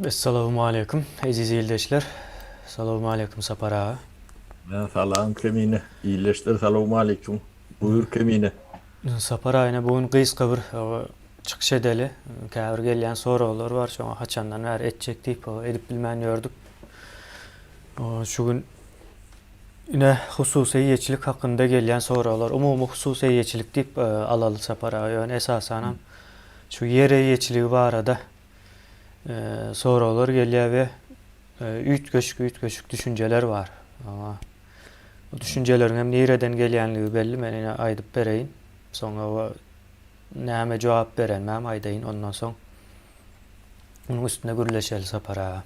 Essalawmaleýkum eziz ildeşler. Salawmaleýkum Sapar aga. Mä salam Kemine. Ildeşler salawmaleýkum. Buýur Kemine. Sapar aga ine bu gün gysga bir çykyş edeli. Käbir gelýän soraglar bar şoňa haçandan bäri etjek diýip edip bilmän ýördük. Şu gün ine hususy eýeçilik hakynda gelýän soraglar umumy hususy eýeçilik diýip alaly Sapar aga ýöne esasanam şu ýer eýeçiligi barada soraglar gelýär we üýtgeşik-üýtgeşik düşünjeler bar. Aňa bu düşünjeleriň hem nireden gelýänligi belli, men ine aýdyp bereýin. Soňra we näme jogap berenimi hem aýdaýyn, ondan soň munuň üstünde gürleşeli Sapar aga.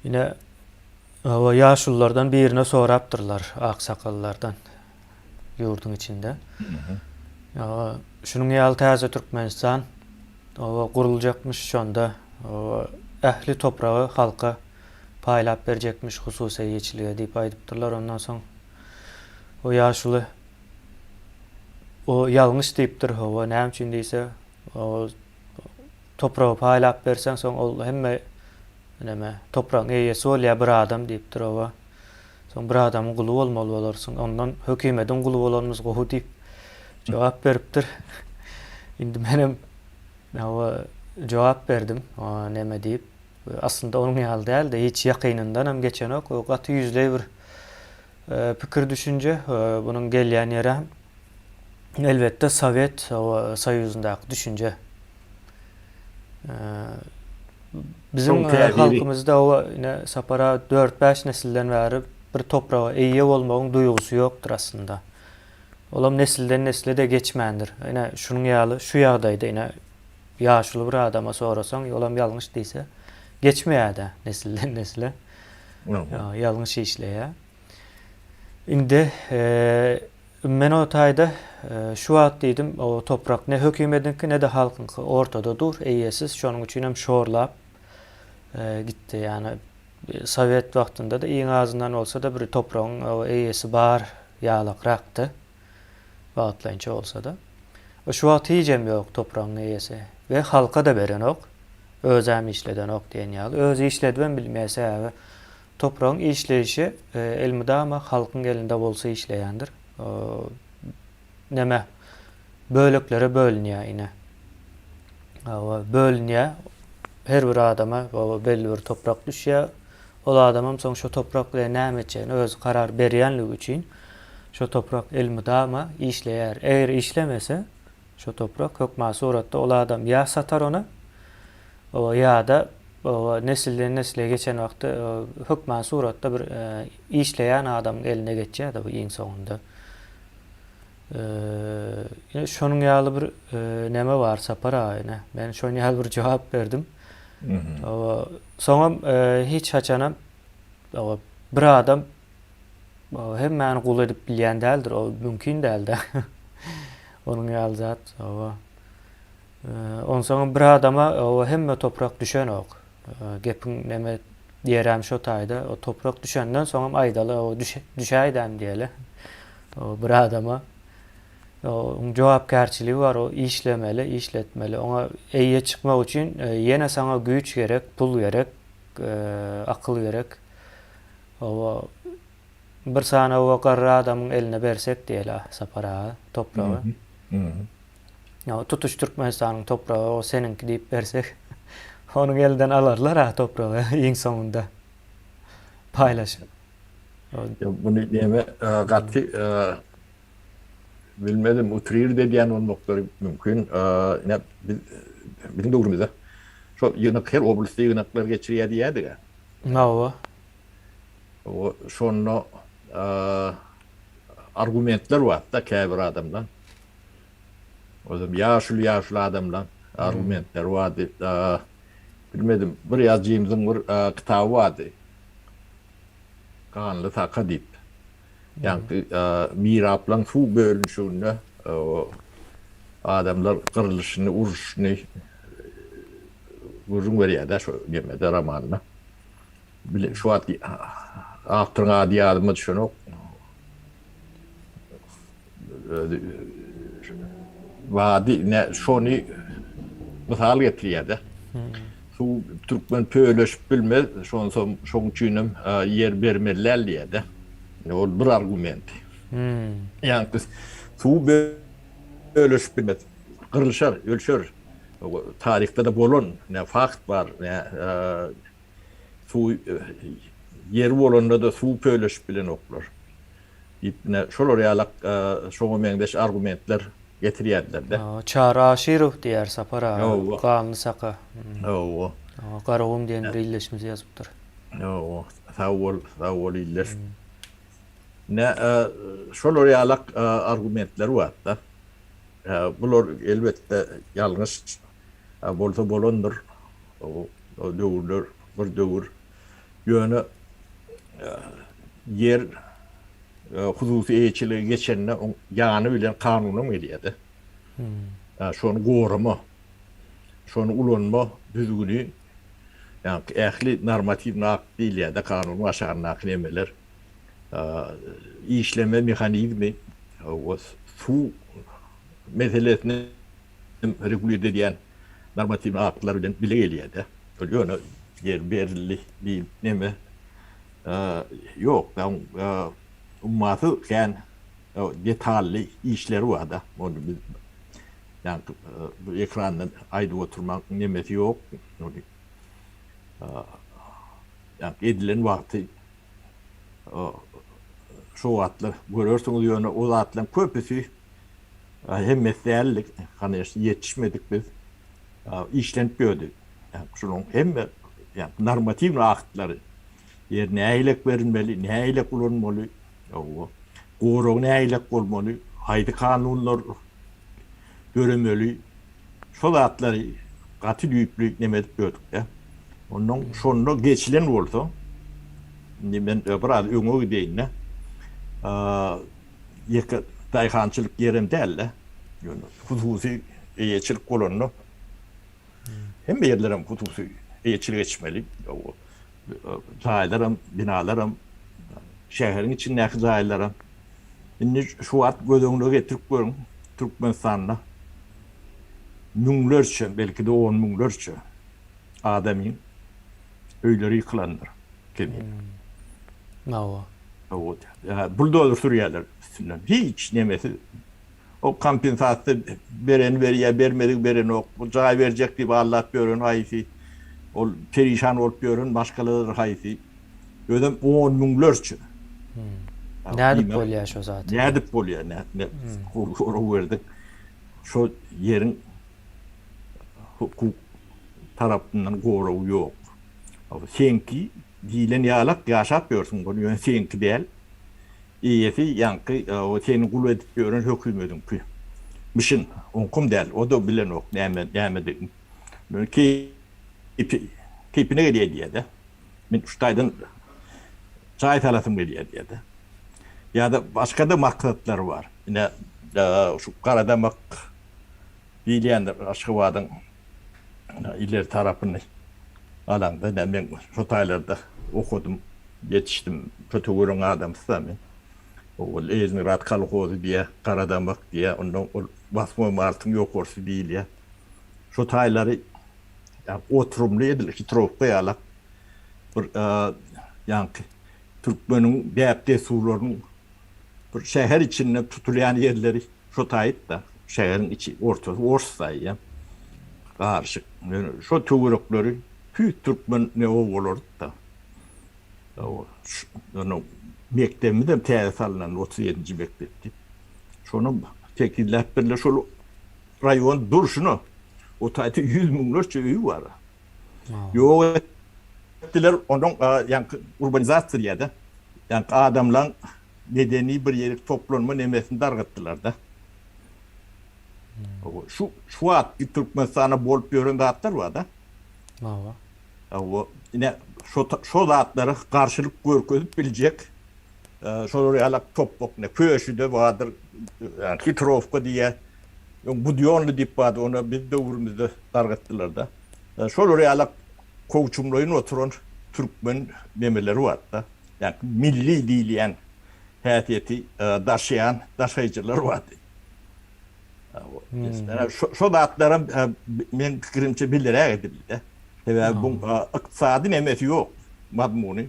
Ine, hawa, ýaşululardan birine sorapdyrlar, aksakallardan. ýurduň içinde. Şunuň ýaly täze Türkmenistan oba guruljakmyş, şonda oba ähli topragy halka paýlap berjekmiş hususy eýeçilige diýip aýdypdyrlar. Ondan soň o ýaşuly o ýalňyş diýipdir, oba näme üçin diýse, oba topragy paýlap berseň, soň ol hemme näme topragyň eýesi bolýar bir adam diýipdir, oba. Soň bir adamyň guly bolmaly bolarsyň. Ondan hökümediň guly bolanymyz gowy diýip jogap beripdir. Indi menem hawa jogap berdim. Näme diýip, aslynda onuň ýaly däl-de, hiç ýakynyndan hem geçenok. O gaty ýüzleý bir pikir-düşünje. Bunuň gelýän ýeri hem elbetde Sowet Soýuzyndaky düşünje. Biziň halkymyzda ine Sapar aga dört-bäş nesilden bäri bir topraga eýe bolmagyň duýgusy ýokdur aslynda. Olam nesilden-nesle-de geçmändir. Ine şunuň ýaly şu ýagdaýda ine ýaşuly bir adama sorasaň, olam ýalňyş diýse, geçmeýär-de nesilden-nesle. Ýalňyş işleýär. Indi Men o taýda şu wagt diýdim, O toprak ne hökümediňki, ne-de halkyňky ortada dur, eýesiz, şonuň üçinem şorlap gitdi. Ýagny sowet wagtynda-da iň azyndan bolsa-da bir topragyň eýesi bar ýalakrakdy, wagtlaýynça bolsa-da. Şu wagt hijem ýok topragyň eýesi we halka-da berenok, özem işledenok diýen ýaly. Özi işledibem bilmeýär, sebäbi Topragyň işleýşi elmydama halkyň elinde bolsa işleýändir. Neme, böleklere bölünýär ine. Hawa, bölünýär. Her bir adama belli bir toprak düşýär. Ol adamam soň şo toprak bilen näme etjegini özi karar berýänligi üçin şo toprak elmydama işleýär. Eger işlemese, Şo toprak hökman suratda ol adam ýa satar ony, oba ýa-da oba nesilden-nesle geçen wagty hökman suratda bir işleýän adamyň eline geçýär-de bu iň soňunda. Ine, şonuň ýaly bir neme bar, Sapar aga, ine. Men şonuň ýaly bir jogap berdim. Oba, soňam hiç haçanam oba bir adam Ol hemmäni gul edip bilýän däldir, ol mümkin däl-dä. Onuň ýaly zat, hawa. Onsoňam bir adama o hemme toprak düşenok. Gepiň neme ýeräm şo taýda, o toprak düşenden soňam aýdaly, o düşäýdäm diýeli. O bir adama oň jogapkärçiligi bar, o işlemeli, işletmeli. Oňa eýe çykmak üçin ýene saňa güýç gerek, pul gerek, akyl gerek. Hawa, bir sany oba garry adamyň eline bersek diýeli Sapar aga, topragy. Hawa, tutuş Türkmenistanyň topragy o seniňki diýip bersek, onuň elinden alarlar-a topragy iň soňunda paýlaşyp. Ýok, muny diýeme gaty bilmedim, utrirdi edýän bolmaklary mümkin. Ine, biziň döwrümizde şol ýygnak, her oblastda ýygnaklar geçirýär diýýärdi-gä. Hawa. Şonda argumentler barda käbir adamlaň. Özem ýaşuly ýaşuly adamlaň argumentleri bardy. Bilmedim bir ýazjymyzyň bir kitaby bardy. Ganly taka diýip. Ýagty Miraplaň suw bölünişiginde adamlar gyrlyşyny, uruşyny gürrüň berýär-dä şu nemede, romanda. Bile, şu wagt awtoryň ady ýadyma düşenok. Özi bady ne şony mysal getirýärde. Suw türkmen pöleşip bilmez, şonsam şoň üçinem ýer bermeliäl diýärde. Indi ol bir argument. Ýaňky suw böleşip bilmez. Gyrlyşar, ölçer. Taryhda-da bolan ne fakt bar, ne suw ýeri bolanda-da suw pöleşip bilenoklar. Diýip, ine, şolar ýalak şoňa meňzeş argumentler getirýärdiler-de. Çary Aşyrow diýýär Sapar aga, Ganly Saka. Hawa. Garagum diýen bir ildeşimiz ýazypdyr. Hawa, sag bol, sag bol ildeş. Ine, şolar ýalak argumentler bar-da. Bular, elbetde, ýalňyş bolsa bolandyr. O döwürler bir döwür. Ýöne ýer hususy eýeçilige geçende oň ýany bilen kanunam gelýär-de. Ýa şony gorama, şony ulanma düzgüni ýa-da ähli normatiwny akt diýilýär-de kanunyň aşagyndaky nemeler. Işleme mehanizmi, suw meselesini hem regulir edýän normatiwnyň aktlar bilen bile gelýär-de. Ol ýöne ýeri berildi diýip neme ýok-da, oň ummasy kän detally işleri bar-da. Ony biz ýaňky ekrandan aýdyp oturmagyň nemesi ýok. Ony ýaňky edilen wagty şo wagtlar görersiňiz, ýöne o zatlaryň köpüsi Hemmesi däldi, kanyýeçne, ýetişmedik biz. Işlenip ýördi. Şunuň hemme normatiwnyý aktlary, ýer nähilek berilmeli, nähilek ulanmaly, hawa, gorag nähilek bolmaly, haýsy kanunlar döremeli, şo zatlary gaty düýpli neme edip ýördik-de. Onnoň şonda geçilen bolsa, indi men biraz öňe gideýin-de, ýeke daýhançylyk ýerem däldi. Ýöne hususy eýeçilik bolanda hemme ýerlerem hususy eýeçilik etmeli. Jaýlaram, binalaram, şäheriň içindäki jaýlaram. Indi şu wagt göz öňüne getirip görüň, Türkmenistanda müňlerçe, belki-de on müňlerçe adamyň öýleri ýykylandyr kemi hawa buldozer sürýärler üstünden hiç nemesi o kompensasiýa bereni berýär bermedigi berenok jaý berjek diýip aldap ýören haýsy ol perişan bolup ýören maşgaladyr haýsy özem on müňlerçe nädip bolýar şo zat nädip bolýar nädip gurlup berdik şo ýeriň hukuk tarapyndan goragy ýok. Seňki diýlen ýalak ýaşap ýörsüň bol ýöne seňki däl. Eýesi ýaňky seni gul edip ýören hökümediňki. Mişin, oňkam däl, o-da bilenok näme nämedigini. Ýöne keýpi keýpine gelýär diýýär-de. Men şu taýdan jaý salasym gelýär diýýär-de. Ýa-da başga-da maksatlary bar. Ine şu garadamak diýilýändir Aşgabadyň ileri tarapyny alaňda ine men şo taýlarda okadym ýetişdim şo töweregiň adamysy-da men owal Leýingrad kolhozy diýýär Garadamak diýýär ondan ol Wasmoý martyň ýokarsy diýilýär şo taýlary oturymly edil hitrowka ýalak bir ýaňky türkmeniň däp-dessurlarynyň bir şäher içinde tutulýan ýerleri. Şo taýyp-da, şäheriň içi, ortasy ors taýy-a, garyşyk. Ýöne şo töwerekleri tüýs türkmen ne obalardy-da. Ýöne mekdebimizem täze salnandy, otuz ýedinji mekdepdi. Şonam tekizläp birler. Şol raýon durşuna o taýda ýüz müňlerçe öýi bar-a. Ýok etdiler, onuň ýaňky urbanizatsiýa diýýär-de. Ýaňky adamlaryň medeni bir ýerik toplanma nemesini dargatdylar-da. Şu, şu wagtky Türkmenistanda bolup ýören zatlar bar-da. Hawa. Hawa, ine, şo, şo zatlara garşylyk görkezip biljek, şolar ýaly topbak, ine, Köşüde bardyr, Hitrowka diýýär, öň Budionly diýip bardy, ony biz döwrümizde dargatdylar-da. Şolar ýaly kowçumlaýyn oturan türkmen nemeleri bardy-da. Ýa-da milli diýilýän häsiýeti daşaýan daşaýjylar bardy. Şo zatlaram meň pikirimçe bileräk edildi-de. Sebäbi bu ykdysady nämesi ýok, mazmuny.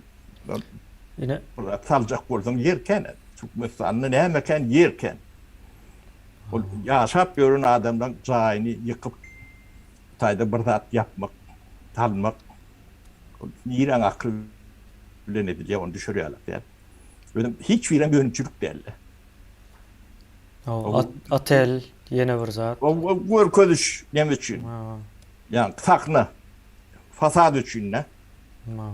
Ine, bular saljak bolsaň ýer kän. Türkmenistanda näme kän, ýer kän. Ol ýaşap ýören adamlaryň jaýyny ýykyp. Hytaýda bir zat ýapmak, salmak niräň akyl bilen edilýär, ony düşürýärler däl. Özem hiç birem önümçilik däldi. Hawa, otel ýene bir zat. O görkeziş näme üçin? Hawa. Ýa sahna, fasad üçin-dä. Hawa.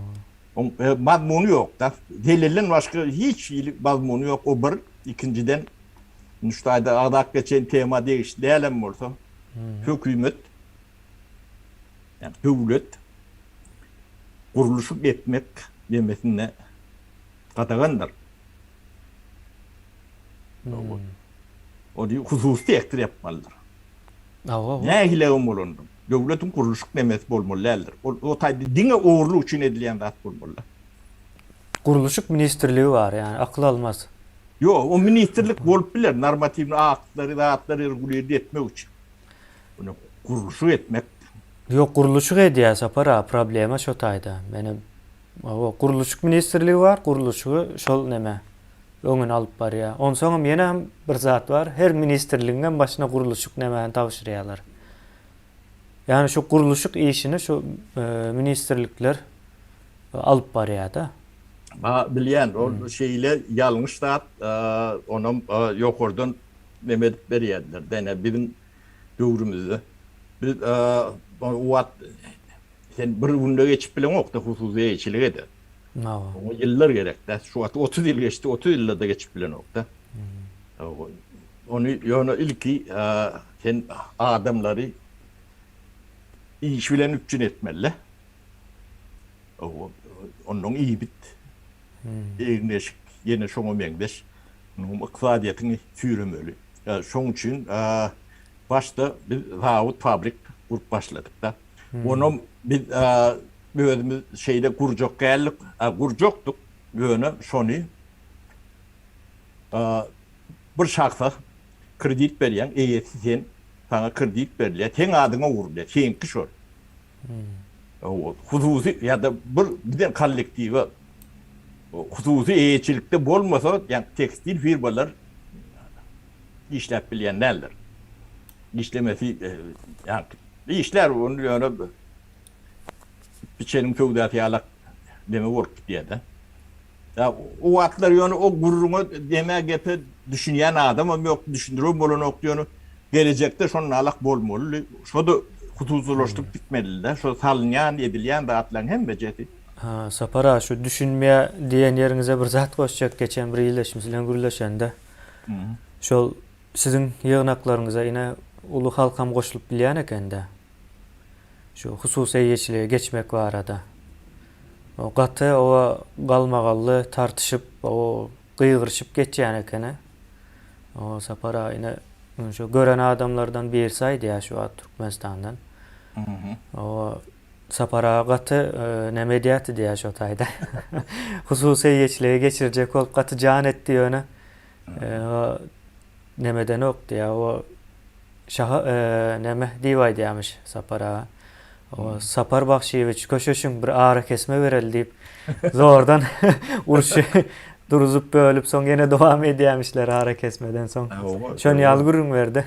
Oň mazmuny ýok-da. Zelelden başga hiç hili mazmuny ýok. O bir, ikinjiden, Hytaýda agzap geçen tema degişli dälem bolsa, hökümet, ýagny döwlet gurluşyk etmek demesine gadagandyr. Ony hususy sektor ýapmalydyr. Nähili hem bolanda, döwletiň gurluşyk demesi bolmaly däldir. Ol o taýda diňe ogurlyk üçin edilýän zat bolmaly. Gurluşyk ministrligi bar ýani akyl almaz. Ýok o ministrlik bolup biler normatiwnyý aktlary zatlary regulirdi etmek üçin. Muny gurluşyk etmek. Ýok gurluşyk edýär Sapar aga problema şo taýda meni o gurluşyk ministrligi bar gurluşygy şol neme öňüni alyp barýar onsoňam ýenem bir zat bar her ministrligiňem başyna gurluşyk nemäni tabşyrýarlar. Ýagny şu gurluşyk işini şu ministrlikler alyp barýar-da. Ba, bilýän, ol şeýle ýalňyş zat, onam ýokardan neme edip berýärdiler. Dene biziň döwrümizde biz o wagt sen bir günde geçip bileňok-da hususy eýeçilik eden. Oňa ýyllar gerek-dä. Şu wagt otuz ýyl geçdi, otuz ýylda-da geçip bilenok-da. Ony ýöne ilki sen adamlary iş bilen üpjün etmeli-le. Onnoň ibit egin-eşik ýene şoňa meňzeş ykdysadyýetiňi süýremeli. Şoň üçin başda biz zawod, fabrik gurup başladyk-da. Onam biz özümiz şeýle gurjak däldik, gurjakdyk, ýöne şony Bir şahsa kredit berýäň, eýesi sen, saňa kredit berilýär, seň adyňa urulýar, seňki şol. Hususy ýa-da bir giden kollektiwe hususy eýeçilikde bolmasa, ýa-da tekstil firmalar işläp bilýän däldir. Işlemesi, ýa-da işlär, ony ýöne biçeniň köwdäsi ýalak deme bolup gidýär-de. Ýa, o wagtlar ýöne o gürrüňe, demä, gepe düşünýän adamam ýokdy, düşündiribem bolanokdy, ýöne gelejekde şonalak bolmalydy. Şo-da hususylaşdyryp gitmelidi-dä, şo salynýan, edilýän zatlaryň hemmejesi. Ha, Sapar aga, şu düşünmä diýen ýeriňize bir zat goşjak, geçen bir ildeşimiz bilen gürleşende, şol siziň ýygnaklaryňyza ine uly halkam goşulyp bilýän eken-dä. şu hususy eýeçilige geçmek barada gaty oba galmagally tartyşyp, gygyryşyp geçýän ekeni. Oba Sapar agyny şu gören adamlardan birisi aýdýar şu wagt Türkmenistandan. Oba Sapar aga gaty näme edýärdi diýýär şo taýda. Hususy eýeçilige geçirjek bolup gaty jan etdi ýöne O nemedenok diýýä, o şaha neme diýip aýdýarmyş Sapar aga. O Sapar Bagşyýewiç, köşeşiň, bir arakesme bereli diýip, zordan urşy duruzyp, bölüp, soň ýene dowam edýärmişler arakesmeden soň. Şony ýaly gürrüň berdi.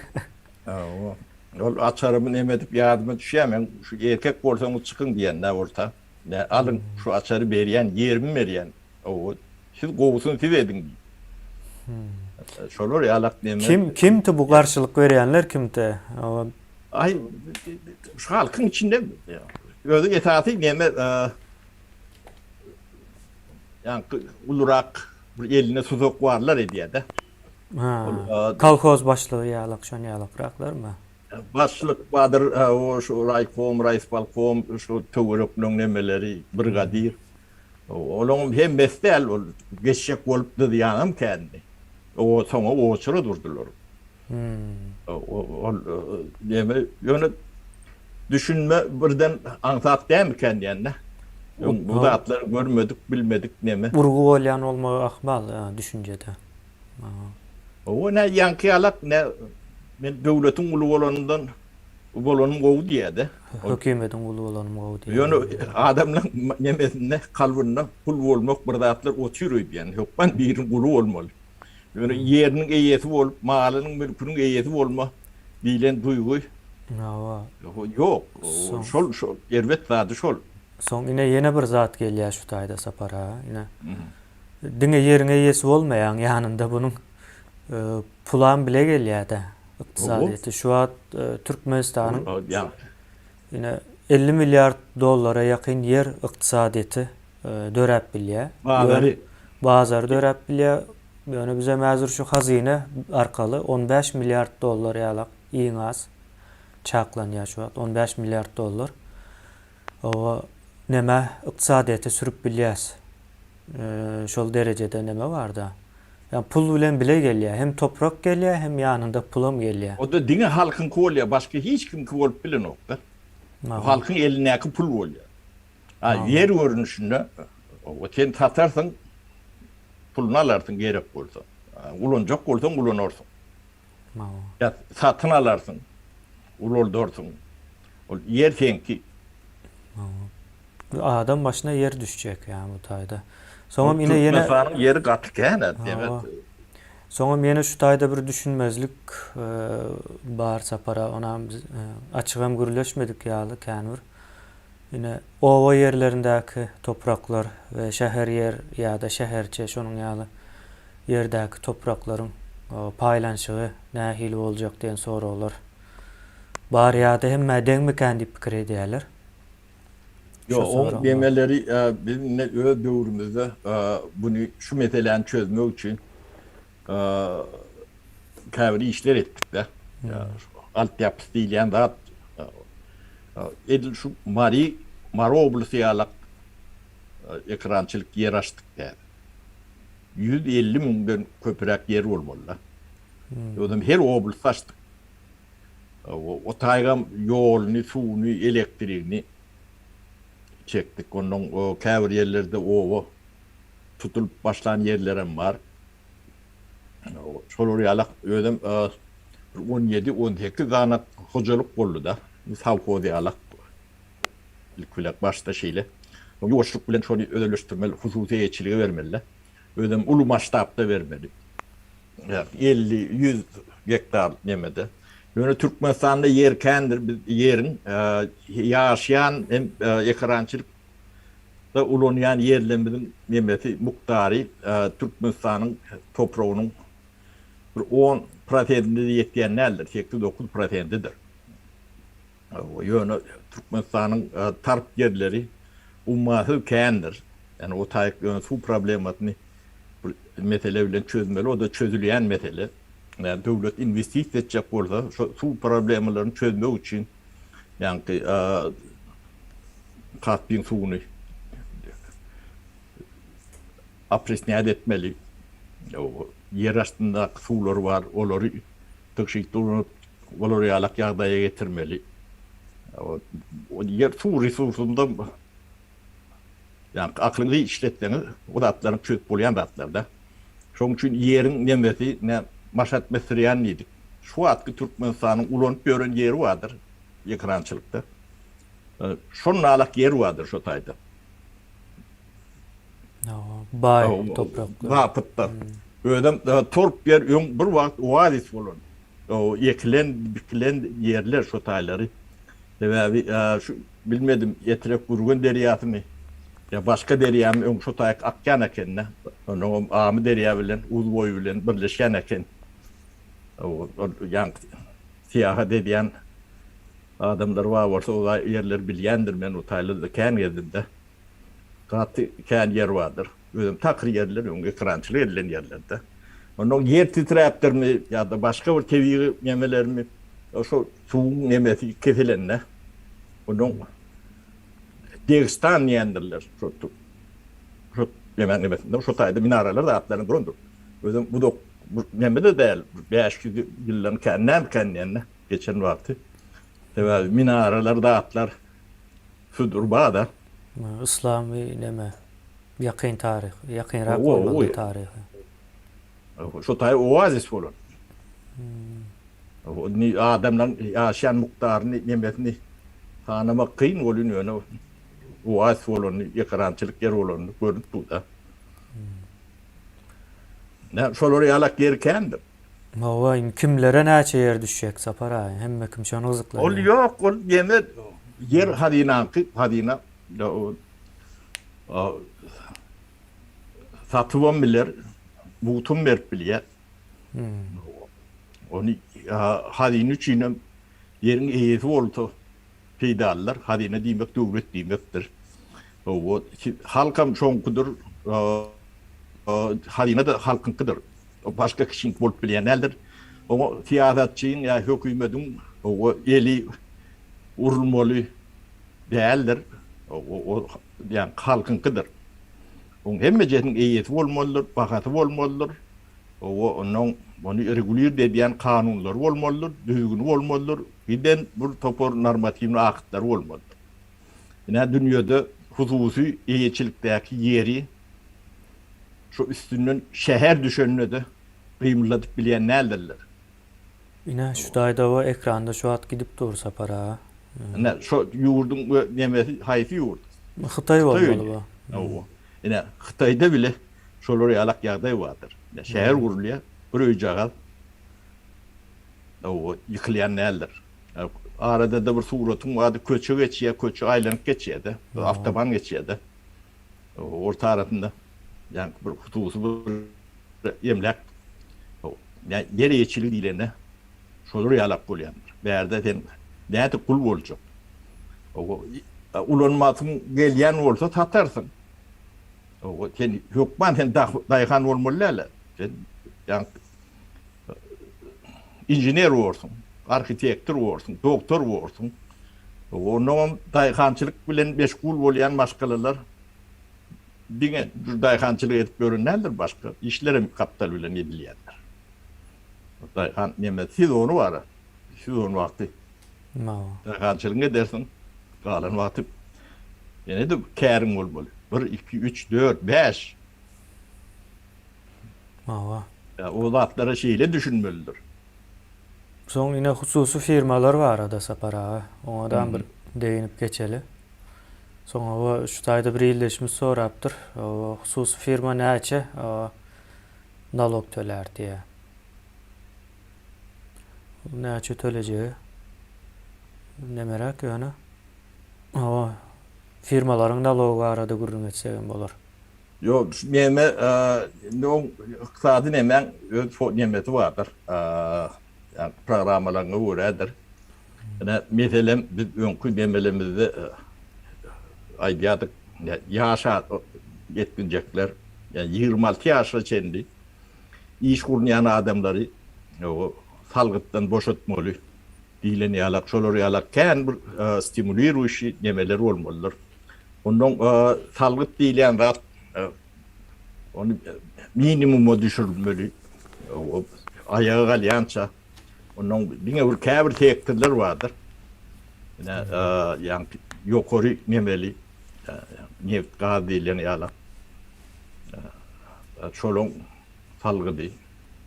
Hawa. Ol açarymy neme edip ýadyma düşýär, men şu erkek bolsaňyz çykyň diýen-dä bolsa. Alyň, şu açary berýän, ýerimi berýän. Hawa. Siz gowusyny siz ediň diýip. Hum. Şolar ýalak neme. Kim kimti bu garşylyk berýänler kimti. Aý şu halkyň içinde özü esasy neme ýaňky ulurak bir elinde tuzak barlar edýädä. Ha. Kolhoz başlygy ýalak şon ýalakraklarmy? Başlyk badyr o şu raýkom, raýispolkom şu töwerekleň nemeleri brigadir. Olaňam hem bes däl, ol geçjek bolup dyzýanam kändi. Soňa oçura durdular. Ol näme, ýöne düşünme birden aňsat dämikäň diýen-dä. Bu zatlary görmedik, bilmedik näme. Urgy bolýan bolmagy ahmal düşünjede. Hawa, nä ýaňky ýalak, nä men döwletiň guly bolanymdan. Uly bolanym gowy diýýärdi. Hökümediň uly bolanym gowy diýýär. Ýöne adamlaň nemesinde, kalbynda gul bolmak bir zatlar otyr öýdýän. Hökman biriň guly bolmaly. Ýöne ýeriniň eýesi bolup, malynyň, mülküniň eýesi bolma diýlen duýgy. Hawa. Ýok. Şol, şol erbet zady şol. Soň ine ýene bir zat gelýär şu taýda Sapar aga. Ine diňe ýeriň eýesi bolmaýaň, ýanynda bunuň Pulam bile gelýädä ykdysadyýeti. Şu wagt Türkmenistanyň ine elli milliard dollara ýakyn ýer ykdysadyýeti döräp bilýär. Bazary. Bazary döräp bilýär. Ýöne bizem häzir şu hazyna arkaly on bäş milliard dollar ýalak iň az çaklanýar şu wagt on bäş milliard dollar. Hawa neme ykdysadyýete sürüp bilýäs şol derejede neme barda ýa pul bilen bile gelýä hem toprak gelýä hem ýanynda pulam gelýä. Oda diňe halkyňky bolýa başga hiç kimki bolup bilenokda. Bu halkyň elindäki pul bolýa. Ha ýer görnüşinde oba sen satarsyň puluny alarsyň gerek bolsa. Ulanjak bolsaň ulanarsyň. Mawo. Ýa satyn alarsyň, ulaldarsyň. Ol ýer seňki. Mawo. Bu adam başyna ýer düşjek ýa bu taýda. Soňam ine ýene. Türkmenistanyň ýeri gaty kän a demek. Soňam ýene şu taýda bir düşünmezlik bar Sapara onam açygam gürleşmedik ýaly kän bir. Ine, oba ýerlerindäki topraklar we şäher ýer ýa-da şäherçe şonuň ýaly ýerdäki topraklaryň paýlanyşygy nähili boljak diýen soraglar bar ýa-da hemmä deňmikän diýip pikir edýärler. Ýok, oň deňeleri biz indi öz döwrümizde buny şu meseläni çözmek üçin käbir işler etdik-de. Galt ýapysy diýilýän zat edil şu Mary, Mary oblasty ýalak ekrançylyk ýer açdyk däl. Ýüz elli müňden köpüräk ýer bolmaly-da. Özem her oblast açdyk. O taýgam ýoluny, suwuny, elektrigini çekdik. Onnoň käbir ýerlerde oba tutulyp başlan ýerlerem bar. Şolar ýala özem bir on ýedi, on sekiz sany hojalyk boldy-da, sowhoz ýala. Ilki bilen başda şeýle. Ýoşluk bilen şony özeleşdirmeli, hususy eýeçilige bermeli-de. Özem uly masştabda bermeli. Elli, ýüz gektar nemede. Ýöne Türkmenistanda ýer kändir, biz ýeriň ýaşaýan hem ekerançylyk Ýaşaýşda ulanýan ýerlerimiziň nemesi mukdary Türkmenistanyň topragynyň bir on prosentine-de ýetýän däldir, sekiz-dokuz prosentidir. Ýöne Türkmenistanyň tarp ýerleri ummasyz kändir. Ýani o taýyk ýöne suw problemasyny bir mesele bilen çözmeli, o-da çözülýän mesele. Döwlet inwestisiýa etjek bolsa, şo suw problemalaryny çözmek üçin ýaňky Kaspiň suwuny opresňat etmeli, ýer astyndaky suwlar bar, olary tygşytly ulanyp, olar ýalak ýagdaýa getirmeli. Ýer suw resursunda Ýa aklyňyzy işletseňiz bu zatlaryň çözüp bolýan zatlarda. Şoň üçin ýeriň nemesi ne maşat mesirýan diýdik. Şu wagtky Türkmenistanyň ulanyp ýören ýeri bardyr ekrançylykda. Şonalak ýer bardyr şo taýda. Hawa, baý topraklar. Wapytlar. Özem torp ýer öň bir wagt oazis bolan. Ekilen, bikilen ýerler şo taýlary. Sebäbi şu Bilmedim, Etrek Gürgen derýasymy ýa başga derýamy öň şo taýak akýan eken-dä. Onuňam Amy derýa bilen Uz boýy bilen birleşýän eken. Ol ýaňky syýahat edýän adamlar bar bolsa o ýerleri bilýändir. Men o taýlarda kän gezdim-de. Gaty kän ýer bardyr. Özem takyr ýerler, öň ekrançylyk edilen ýerlerde. Onda ýer titräpdirmi ýa-da başga bir tebigy nemelermi, şol suwuň nemesi kesilende, onuň degstan diýendirler, şo tu, şo nemäň nemesinde, şo taýda minaralar zatlaryň durandyr. Özem uzak bir neme-de däl, bäş ýüz ýyldan kän dälkän diýende, geçen wagty. Sebäbi minaralar zatlar Sudur bada. Yslam we neme ýakyn taryh ýakynrak bolmalydyr taryha. Şo taýy oazis bolan. Indi adamlaryň ýaşaýan mukdaryny nemesini sanamak kyn ol indi ýöne oazis bolan ýekrançylyk ýer bolan görnüp dur da. Nä şolar ýalak ýer kändir. Hawa, indi kimlere näçe ýer düşjek, Sapar aga? Hemme kim şony gyzyklanýar. Ol ýok, ol ýene ýer hazynaňky, hazyna satybam biler, mugtum berip bilýär. Ony hazyna üçinem ýeriň eýesi bolsa. Peýdalylar hazyna diýmek döwlet diýmekdir. Hawa, halkam şoňkudyr. Hazyna-da halkyňkydyr. Başga kişiniňki bolup bilýän däldir. Oňa syýasatçyň ýa hökümediň hawa eli urulmaly däldir. Hawa, ol diýen halkyňkydyr. Oň hemmejesiniň eýesi bolmalydyr, bahasy bolmalydyr. Hawa, onuň muny regulirde edýän kanunlary bolmalydyr, düzgüni bolmalydyr, birden bir topar normatiwnyý aktlary bolmalydyr. Ine, dünýede hususy eýeçilikdäki ýeri şu üstünden şäher düşende-de gymyldadyp bilýän däldirler. Ine, şu daýdawa ekranda şu at gidip dur, Sapar aga. Ine, şu ýurduň nemesi haýsy ýurt? Hytaý bolmaly bu. Hawa. Ine, Hytaýda bile Şolar ýalak ýagdaý bardyr. Ine, şäher gurulýar, bir öýjagaz oba ýykylýan däldir. Arada-da bir suratyň bardy, köçe geçýär, köçe aýlanyp geçýär-de, bir awtoban geçýär-de. Orta arasynda ýaňky bir hususy bir emläk, ýer eýeçiligi diýlende, şolar ýalak bolýandyr. Bärde sen nädip gul boljak? Ulanmasyň gelýän bolsa satarsyň. Sen hökman sen daýhan bolmaly däl-ä. Sen inžener borsuň, arhitektor borsuň, doktor borsuň. Onda hem daýhançylyk bilen meşgul bolýan maşgalalar diňe daýhançylyk edip ýören däldir, başga işler hem gapdal bilen edilýändir. Daýhan neme, sezony bar-a. Sezon wagty Mawa. Dagalçylygyňy edersiň. Galan wagty ýene-de käriň bolmaly. Bir, iki, üç, dört, bäş. Mawa. Ýa o zatlara şeýle düşünmelidir. Soň ine hususy firmalar barada Sapar aga. Oňadam bir degynip geçeli. Soň hawa şu taýda bir ildeşimiz sorapdyr. Hususy firma näçe nalog tölär diýä. Näçe tölejegi demeräk ýöne. Hawa, firmalaryň nalogy barada gürrüň etsegem bolar. Ýo, şu neme, indi oň ykdysady nemäň öz nemesi bardyr, ýagny programmalaryňa görädir. Ine, meselem, biz öňki nemelerimizde aýdýardyk, ýaş ýetginjekler, ýagny ýigrimi alty ýaşa çenli Iş gurnaýan adamlary salgytdan boşatmaly diýlen ýalak, şolar ýalak kän bir stimuliruýşi nemeler bolmalydyr. Onnoň salgyt diýilýän zat ony minimuma düşürilmeli, aýaga galýança. Onnoň diňe bir käbir sektorlar bardyr. Ine, ýagny ýokary nemeli neft, gaz diýilýän ýalak. Çoluň salgydy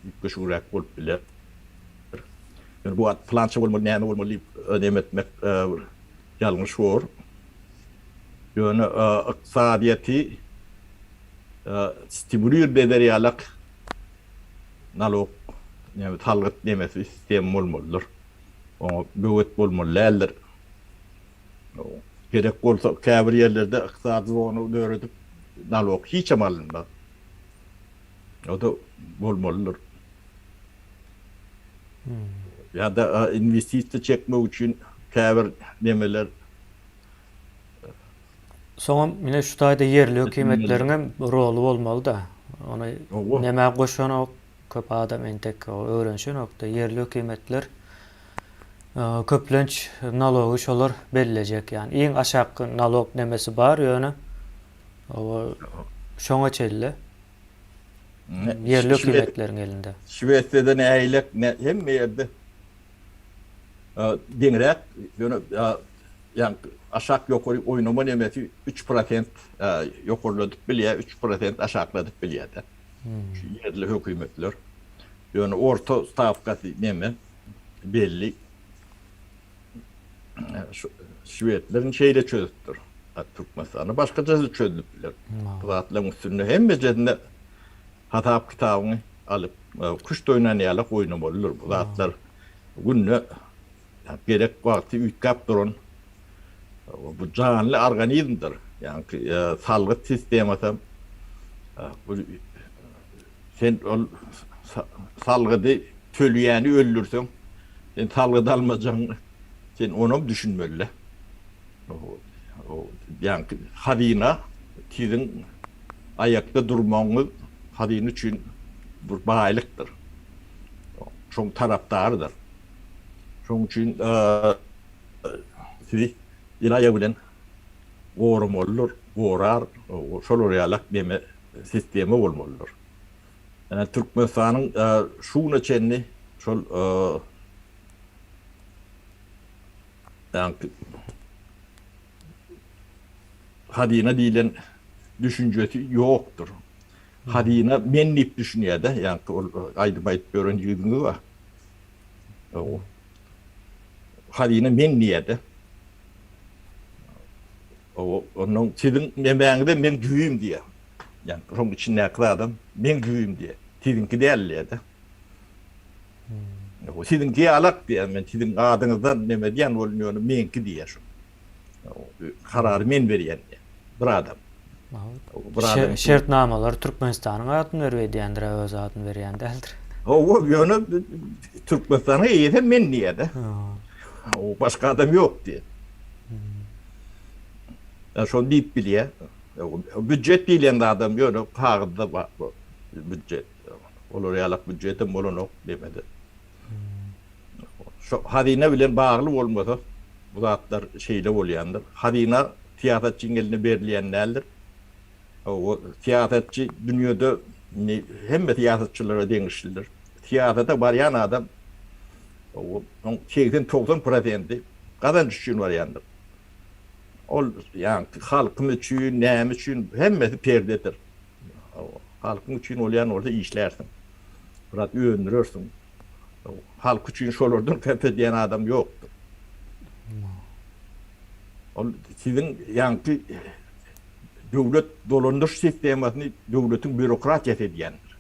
üýtgeşigräk bolup biler. Ýöne bu at pylança bolmaly, näme bolmaly diýip önem etmek ýalňyş bor. Ýöne ykdysadyýeti stimulir eder ýalak nalog näme salgyt nemesi sistema bolmalydyr. Oňa böwet bolmaly däldir. Gerek bolsa käbir ýerlerde ykdysady zona döredip nalok hiçem alynmaz. O-da bolmalydyr. Ýa-da inwestisiýa çekmek üçin käbir nemeler. Soňam ine şu taýda ýerli hökümetleriň hem roly bolmaly-da. Ony nemä goşanok, Köp adam entek öwrenişenokda, ýerli hökümetler köplenç nalogy şolar bellejek, ýagny iň aşak nalog nemesi bar, ýöne şoňa çenli ýerli hökümetleriň elinde. Şwesiýada nähilek, hemme ýerde deňräk, ýöne ýagny aşak ýokary oýnama nemesi üç prosent ýokarladyp bilýär, üç prosent aşakladyp bilýär-de. şu ýerli hökümetler. Ýöne orta stawkasy neme belli. Şu şwedleriň şeýle çözüpdir. Hat Türkmenistanda başgaça çözülip biler. Bu zatlaryň üstünde hemmejesinde hasap kitabyňy alyp, küşt oýnan ýalak oýnamalydyr. Bu zatlar günde Ýa gerek wagty üýtgäp duran bu janly organizmdir. Ýaňky salgyt sistemasam bu sen ol salgydy tölýäni öldürseň sen salgyt almajagyň sen onam düşünmelidä. Ýaňky hazyna siziň aýakda durmagyňyz hazyna üçin bir baýlykdyr. Şoň tarapdarydyr. Şonuň üçin sizi ilaýa bilen goramalydyr, gorar, şolar ýaly meme sistema bolmalydyr. Ýa Türkmenistanyň şu güne çenli şol hazyna diýlen düşünjesi ýokdur. Hazyna men diýip düşünýär-de, ýaňky ol aýdym aýdyp ýören ýigidiňiz bar. Hawa. Hazyna men diýýär-de. Hawa, onda siziň nemäňize men düýbüm diýýär. Ýa, şoň içindäki zadam men düýbüm diýýär. Siziňki däl diýýär-de. Siziň dialekt diýýän men siziň adyňyzdan neme diýýän boldum ýöne meňki diýýän şo. Karary men berýän diýýän. Bir adam. Şer şertnamalar Türkmenistanyň adyny berip edýändir öz adyny berýän däldir. Hawa ýöne Türkmenistanyň eýesem men diýýäde. O başga adam ýok diýýä. Ýa şony diýip bilýä. Büdjet diýlen adam ýöne kagyzda bar bu büdjet. Olar ýalak býujetem bolanok demede. Şo hazyna bilen bagly bolmasa bu zatlar şeýle bolýandyr. Hazyna syýasatçyň eline berilýän däldir. Hawa, syýasatçy dünýede indi hemme syýasatçylara degişlidir. Syýasata barýan adam hawa, oň segsen, togsan prosenti gazanç üçin barýandyr. Ol ýa halkym üçin, näme üçin, hemmesi perdedir. Halkyň üçin bolýan bolsa işlärsiň. Biraz öndürersiň. Halk üçin şolardan köp edýän adam ýokdur. Ol siziň ýaňky döwlet dolandyryş sistemasyny döwletiň býurokratiýasy edýändir.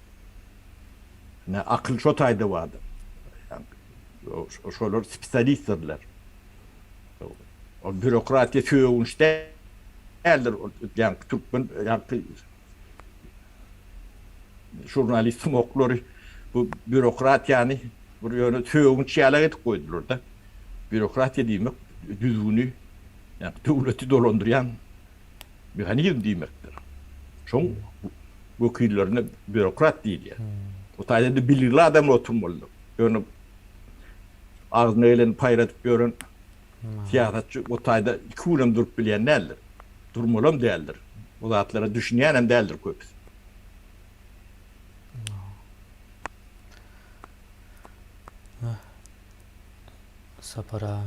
Ine, akyl şo taýda bardyr. Şolar spesialistdirler. Ol býurokratiýa sögünç däldir. Ýaňky türkmen, ýaňky žurnalistiň oklary bu býurokratiýany bir ýöne sögünç ýalak edip goýdular-da. Býurokratiýa diýmek düzgüni, ýaňky döwleti dolandyrýan mehanizm diýmekdir. Şoň wekillerine býurokrat diýilýär. Bu taýda-da biligli adam oturmalydyr. Ýöne. Agzyna geleni paýradyp ýören syýasatçy bu taýda iki gün hem durup bilýän däldir. Durmalam däldir. Bu zatlara düşünýän hem däldir köpüsi. Sapar aga.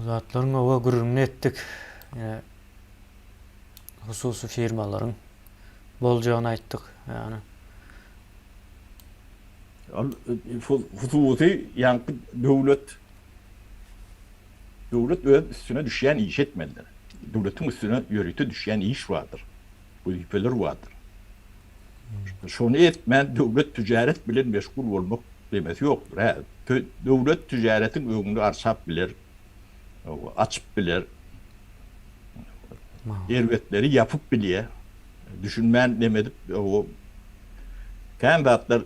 zatlaryň oba gürrüňini etdik. hususy firmalaryň boljagyny aýtdyk. Ýagny Ol hususy ýaňky döwlet döwlet öz üstüne düşýän işi etmelidir. Döwletiň üstüne ýörite düşýän iş bardyr. Wezipeler bardyr. Şony etmän döwlet tüjaret bilen meşgul bolmak demesi ýokdur. Hä, döwlet tüjaretiň öňüni arçap biler, açyp biler, erbetleri ýapyp bilýär. Düşünmän neme edip kän zatlar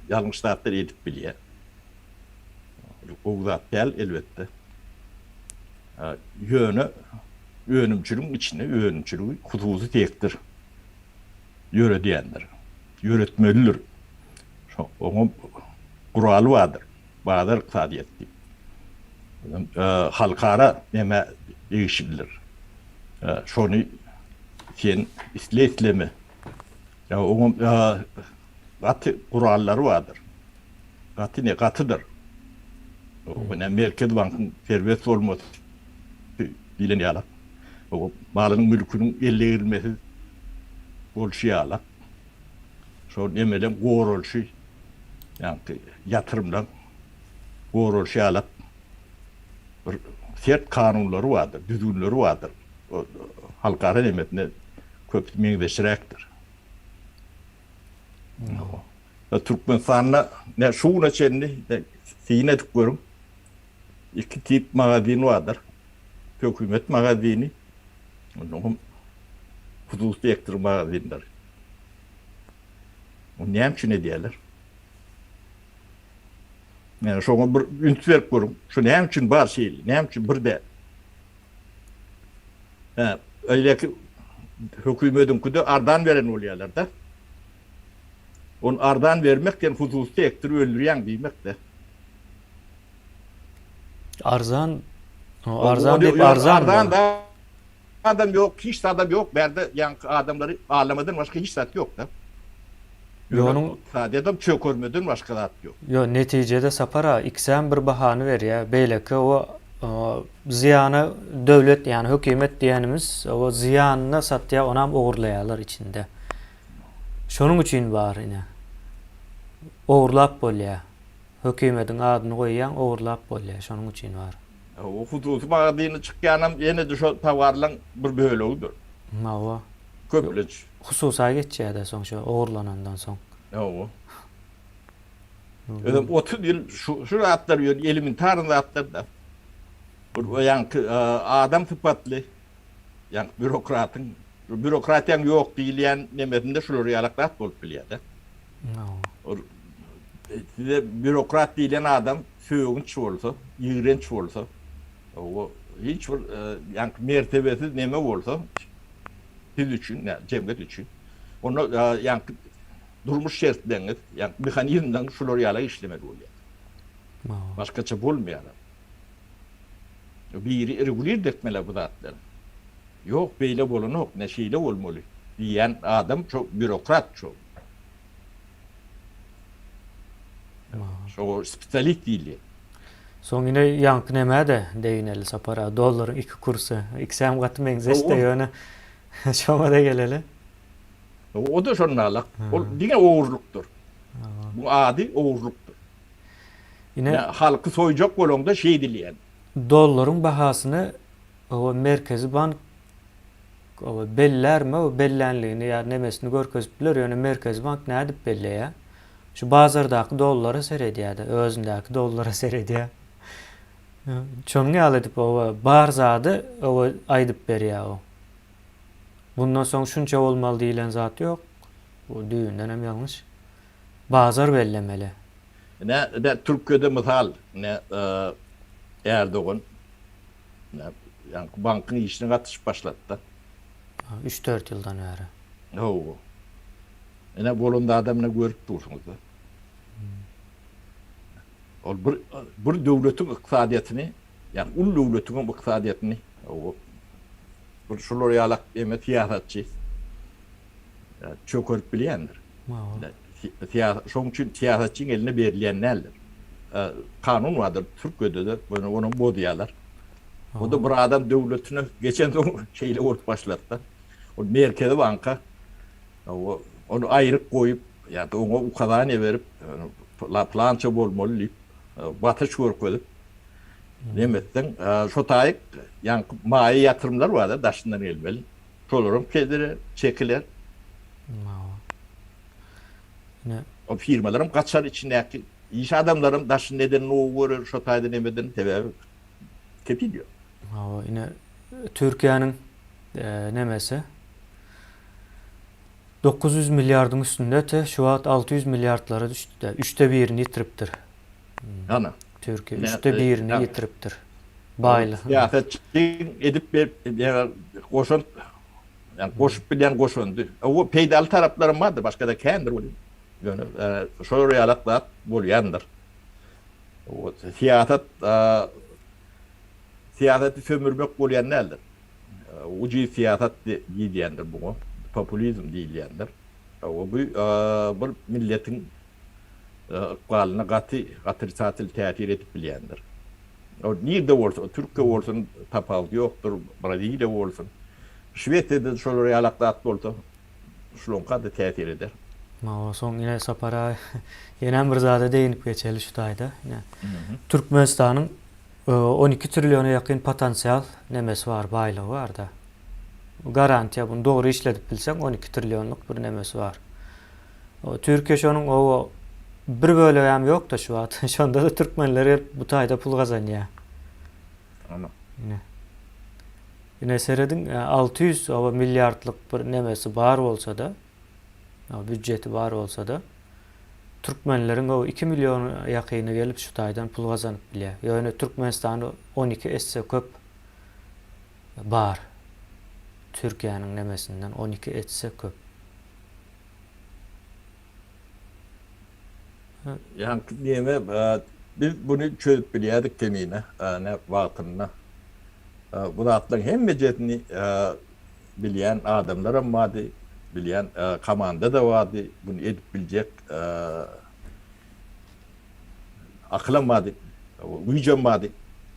ýalňyş zatlar edip bilýär. Gowy zat däl elbetde. Ýöne önümçiligiň içinde önümçiligi hususy sektor ýöredýändir, ýöretmelidir. Oňa guraly bardyr. bazar ykdysadyýeti halkara emä degişlidir. Şony sen isle-isleme, oňa gaty gurallary bardyr. Gaty ne, gatydyr. Ine, Merkezi bankyň serbet bolmasy diýlen ýaly, malynyň-mülküniň ele girilmesiz bolşy ýaly. şol nemeden goralşy, ýagny ýatyrymdan goralşy ýalak bir sert kanunlary bardyr, düzgünleri bardyr. Ol halkara nemesine köp meňzeşiräkdir. Türkmenistanda şu güne çenli syn edip görüň, iki tip magazin bardyr. Hökümet magazini, ondan soň hususy sektor magazinleri. Ony näme üçin edýärler? Ýöne şoňa bir üns berip görüň. Şu näme üçin bar şeýle? Näme üçin bir däl? Hä, öýleki hökümetiňkide arzan beren bolýarlar-da. Ony arzan bermek sen hususy sektory öldürýäň diýmek-de. Arzan Arzan diýip Arzan adam ýok hiç zadam ýok bärde ýaňky adamlary alamadan başga hiç zat ýokda. Ýonuň sadedam çökermeden başga zat ýok. Ýok netijede Sapar aga ikisem bir bahany berýä beýleki o zyýana döwlet ýani hökümet diýenimiz o zyýanyna satýa onam ogurlaýalar içinde. Şonuň üçin bar ine. Ogurlap bolýa. Hökimediň adyny goýýaň ogurlap bolýa şonuň üçin bar. O hususy magazyny çykýanam ýene-de şo towarlaň bir bölegidir. Hawa. Köplenç. Hususa geçýädä soň şo ogurlanandan soň. Hawa. Özem otuz ýyl şu şu zatlar ýöne elementarny zatlarda. Bir o ýaňky adam sypatly ýaňky býurokratyň býurokratiýaň ýok diýilýän nemesinde şular ýalak zat bolup bilýädä. Hawa. Size býurokrat diýlen adam sögünç bolsa, ýigrenç bolsa, o hiç bir ýaňky mertebesiz neme bolsa, siz üçin, ýa jemgyýet üçin, onda ýaňky durmuş şertleriňiz, ýaňky mehanizmleriňiz şular ýala işlemeli bolýar. Başgaça bolmaýar. Biri regulird etmeli bu zatlary. Ýok, beýle bolanok, ne şeýle bolmaly diýen adam şo býurokrat şo. Şoňa spesialis diýilýär. Soň ine ýaňky näme-de degineli Sapar aga, dollaryň iki kursy. Ikisem gaty meňzeş-de ýöne şoňa-da geleli. O-da şonda-la. Ol diňe ogurlykdyr. Bu ady ogurlykdyr. Ine halky soýjak bolaňda şeýdilýär. Dollaryň bahasyny Merkezi bank Bellärmi o bellänligini ýa nemesini görkezip biler ýöne merkezi bank nädip belleýä şu bazardaky dollara seredýädä özündäki dollara seredýä şonuň ýaly edip oba bar zady oba aýdyp berýä o bundan soň şunça bolmaly diýilen zat ýok bu düýbündenem ýalňyş bazar bellemeli. Ine ine türkiýede mysal ine Erdogan. Ýaňky bankyň işine gatyşyp başlady-da. Üç-dört ýyldan bäri. Hawa. Ine, bolan zadam ine görüp dursuňyz-da. Ol bir bir döwletiň ykdysadyýetini, ýagny uly döwletiň hem ykdysadyýetini, hawa. Bir şular ýalak ýene syýasatçy. çökerip bilýändir. Şonuň üçin syýasatçyň eline berilýän däldir. Kanun bardyr Türkiýede-de, ýöne onam bozýarlar. O-da bir adam döwletine geçensoň şeýle bolup başlady-da. Ol Merkezi banka ony aýryk goýup, ýa-da oňa ukazaniýa berip, pylança bolmaly diýip, basyş görkezip, nemesden, şo taýyk ýaňky maýa ýatyrymlar bar-da, daşyndan gelmeli. Şolaram kedire çekiler. Hawa. Ine. O firmalaram gaçar içindäki iş adamlaram daşyny neden gowy görer şo taýda nemeden sebäbi kepil ýok. Hawa ine Türkiýäniň nemesi dokuz ýüz milliardyň üstünde te şu wagt alty ýüz milliardlara düşdü-de üçde birini ýitiripdir. Ana. Türkiýe üçde birini ýitiripdir baýlygyň. Syýasatçy edip goşant ýa goşup bilýän goşandy. Owo peýdaly taraplaram bardyr başgada kändir welin. Ýöne şolar ýalak zat bolýandyr. Owo syýasat syýasaty sömürmek bolýan däldir. Ucuz syýasat diýilýändir buňa. Populizm diýilýändir. Owo bu bir milletiň ykbalyna gaty otrisatel täsir edip bilýändir. Ol nirde bolsa, Türkiýe bolsun, tapawudy ýokdur, Braziliýa bolsun, Şwesiýada-da şolar ýalak zat bolsa, şulaňka-da täsir eder. Maňa soň ine Sapar aga, ýenem bir zada degynip geçeli şu taýda. Ine, Türkmenistanyň on iki trilliona ýakyn potensial nemesi bar, baýlygy bar-da. Garantiýa, muny dogry işledip bilseň, on iki trillionlyk bir nemesi bar. O Türkiýe şonuň oba bir bölegem ýokda şu wagt. Şondada türkmenler gelip bu taýda pul gazanýa. Ana. Ine. Ine serediň alty ýüz oba milliardlyk bir nemesi bar bolsada, o býudjeti bar bolsada, türkmenleriň o iki million ýakyny gelip şu taýdan pul gazanyp bilýä. Ýöne Türkmenistanda on iki esse köp bar. Türkiýäniň nemesinden on iki etse köp. Ýaňky diýene biz buny çözüp bilýädik kemine wagtynda. Bu zatlaryň hemmejesini bilýän adamlaram bardy, bilýän komanda-da bardy, buny edip biljek akylam bardy, güýjem bardy.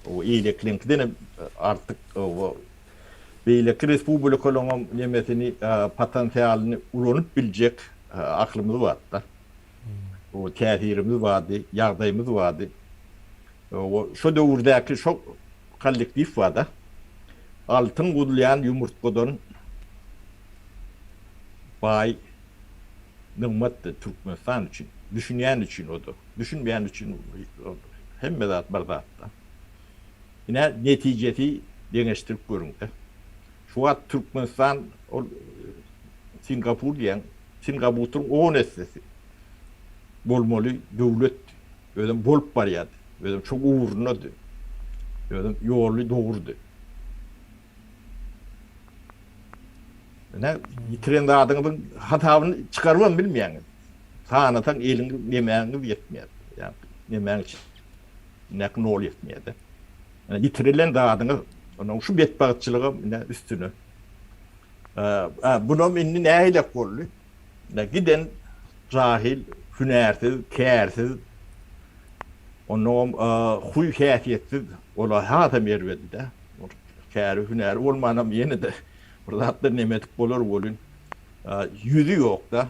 Eýlekiliňkidenem artyk. Beýleki respublikalaryňam nemesini potensialyny ulanyp biljek aklymyz bardy-da. O täsirimiz bardy, ýagdaýymyz bardy. O şo döwürdäki şo kollektiw bar-da. Altyn guzulýan ýumurtgadan baý nygmatdy Türkmenistan üçin. Düşünýän üçin o-da, düşünmeýän üçin hemme zat bir zat-da. Ine netijesi deňeşdirip görüňdä. Şu wagt Türkmenistan ol Singapur diýen Singabutyryň on essesi bolmaly döwletdi. Özem bolup barýardy. Özem şo ugrundady. Özem ýoly dogrudy. Ine, ýitiren zadyňyzyň hasabyny çykarybam bilmeýäňiz. Sanasaň eliňiz, nemäňiz ýetmeýär. Ýagny, nemäň içindäki nol ýetmeýär-de. Ine, ýitirilen zadyňyz, ine, şu betbagtçylygam, ine, üstüne. Ä, bunam indi nähilek boldy? Ine, giden jahil, hünärsiz, kärsiz, onnoňam huý-häsiýetsiz, ola hasam erbedi-dä. Ol käri hünäri bolmanam ýene-de bir zatlar neme edip bolar welin, ýüzi ýok-da.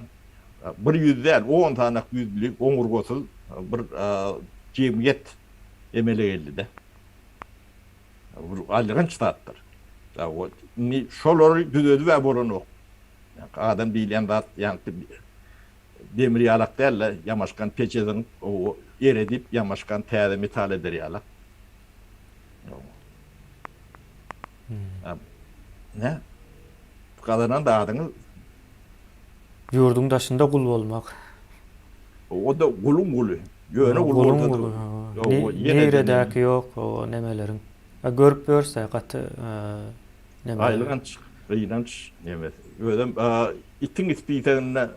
Bir ýüz däl, on sanak ýüzli, oňurgasyz bir jemgyýet emele geldi-de. Bu alyganç zatdyr. Indi şolary düzedib-ä bolanok. Adam diýilýän zat ýaňky Demir ýalak däl-de, ýamaşgan peçeziň owy eredip ýamaşgan täze metal eder ýalak. Nä? Gazanan zadyňyz? Ýurduň daşynda gul bolmak. O-da guluň guly. Ýöne gul bolsa-da. Guluň guly, hawa. Niredäki ýok o nemeleriň. A görüp ýörse gaty neme. Aýylganç, gynanç nemesi. Özem Itiň ispiseginde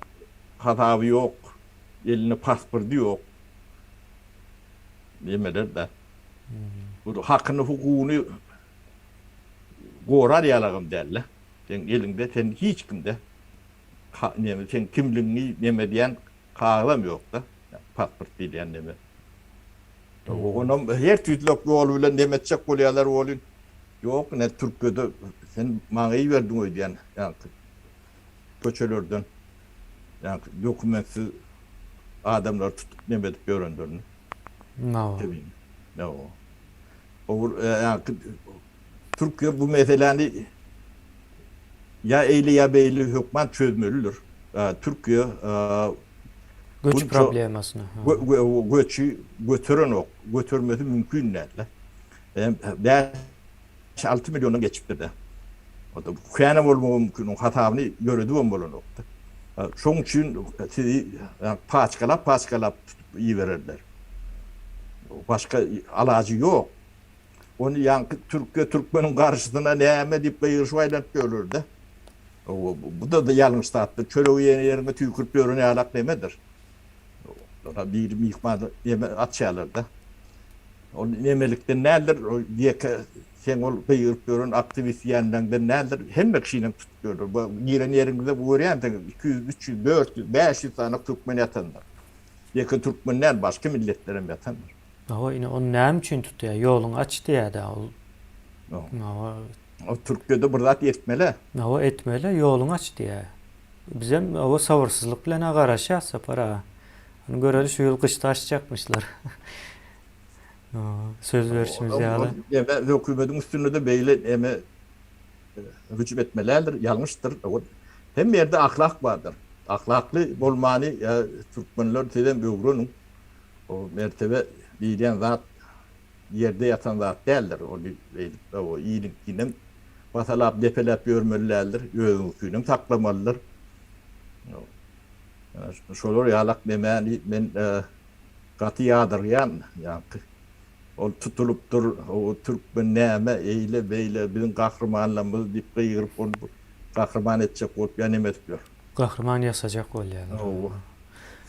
hasaby ýok, elinde paspordy ýok. Diýmeler-dä. Bu hakyny, hukugyny gorar ýalagam däl-de. Seň eliňde sen hiç kimde neme seň kimligiňi neme diýen kagyzam ýok-da. Pasport diýilýän neme. Oňam her tüýdlek ýol bilen neme etjek bolýarlar welin, ýok ine türkede sen maňa iberdiň öýdýän ýaňky köçelerden ýaňky dokumentsiz adamlary tutup neme edip ýörenlerini. Nawa. Ýa o. Ýaňky Türkler bu meseläni ýa eýle ýa beýle hökman çözmelidir. Türkiýe göç problemasyny göçi göterenok, götermesi mümkin däl-de. Bäş, alty milliondan geçipdir-de. Kän bolmagy mümkin, oň hasabyny ýöredip hem bolanok-da. Şoň üçin sizi paçkalap-paçkalap tutup ibererler. Başga alajy ýok. Ony ýaňky türkçe türkmeniň garşysyna näme diýip gygyryşyp aýlanyp ýörler-dä. Bu-da ýalňyş zatdyr. Çöregi ýene ýeriňe tüýkürip ýören ýalak nemedir. Olara biri myhman neme açýarlar-da. Ol nemelikden däldir, ýeke seň ol gygyryp ýören aktiwist diýenleňden däldir. Hemme kişinem tutup ýörler. Bu giren ýeriňizde bu görýänsiňiz, iki ýüz, üç ýüz, dört ýüz, bäş ýüz sany türkmen ýatandyr. Ýeke türkmen däl, başga milletlerem ýatandyr. Hawa ine ony näme üçin tutýar ýoluňy aç diýädä ol hawa. Ol türkçede bir zat etmelä. Hawa etmelä ýoluňy aç diýä. Bizem hawa sabyrsyzlyk bilen a garaşýas Sapar aga. Ony göreli şu ýyl gyşda açjakmyşlar. Söz berşimiz ýaly. Ýöne hökümediň üstünde-de beýle näme hüjüm etmelädir, ýalňyşdyr. Hemme ýerde ahlak bardyr. Ahlakly bolmany türkmenler sizem öwreniň. O mertebe diýilýän zat ýerde ýatan zat däldir. Ony beýdip iliňkinem basalap, depeläp ýörmeli däldir. Özüňkinem saklamalydyr. Şolar ýalak nemäni men gaty ýadyrýan. Ýaňky ol tutulypdyr, o türkmen näme eýle-beýle biziň gahrymanlarymyzy diýip gygyryp, ony gahryman etjek bolup ýanym ötüp ýör. Gahryman ýasajak bolýalar. Hawa.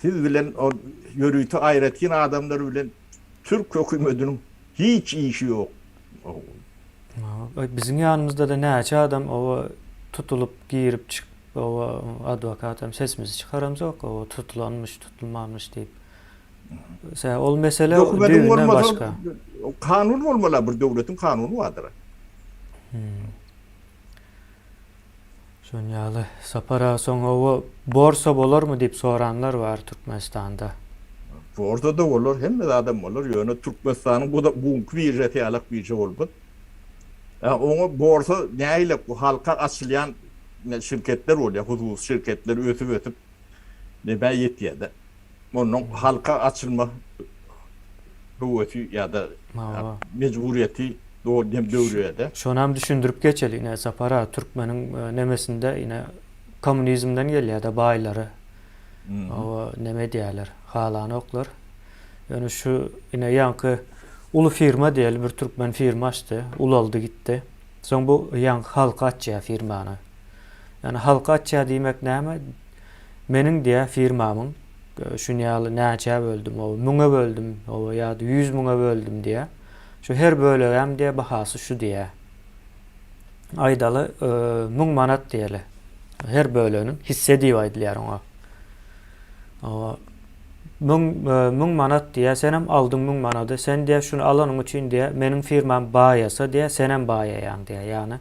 Siz bilen ol ýörite aýratyn adamlar bilen türk hökümetiniň hiç işi ýok. Biziň ýanymyzda-da näçe adam oba tutulyp girip çykyp oba adwokatam sesimizi çykaramzok oba tutulanmyş tutulmanmyş diýip. Sebäbi ol mesele düýbünden başga. Kanun bolmala bir döwletiň kanuny bardyra. Şonuň ýaly Sapar aga soň oba borsa bolarmy diýip soranlar bar Türkmenistanda. Borsa-da bolar, hemme zadam bolar, ýöne Türkmenistanyň bu da bu günki biržasy ýalak birža bolmaz. Ýa oňa borsa nägilek bu halka açylýan şirketler bolýar, hususy şirketler ösüp-ösüp nebä ýetýär-de. Onuň halka açylma höwesi ýa-da mejburyýeti dogry hem döwrebede. Şonam düşündirip geçeli, ine, Sapar aga, türkmeniň nemesinde, ine, kommunizmden gelýär-de baýlary, oba, neme edýärler, halanoklar. Ýöne şu, ine, ýaňky uly firma diýeli, bir türkmen firma açdy, ulaldy gitdi. Soň bu ýaňky halka açýar firmany. Ýöne halka açýar diýmek näme? Meniň diýä firmamyň şuny ýaly näçä böldüm, oba, müňe böldüm, oba, ýa-da ýüz müňe böldüm diýä. Şu her bölegem diýä bahasy şu diýä. Aýdaly, müň manat diýeli. Her böleginiň hisse diýip aýdylýar oňa. Oba, müň, müň manat diýä, senem aldyň müň manady. Sen diýä şuny alanyň üçin diýä, meniň firmam baýasa diýä, senem baýaýaň diýä. Ýagny,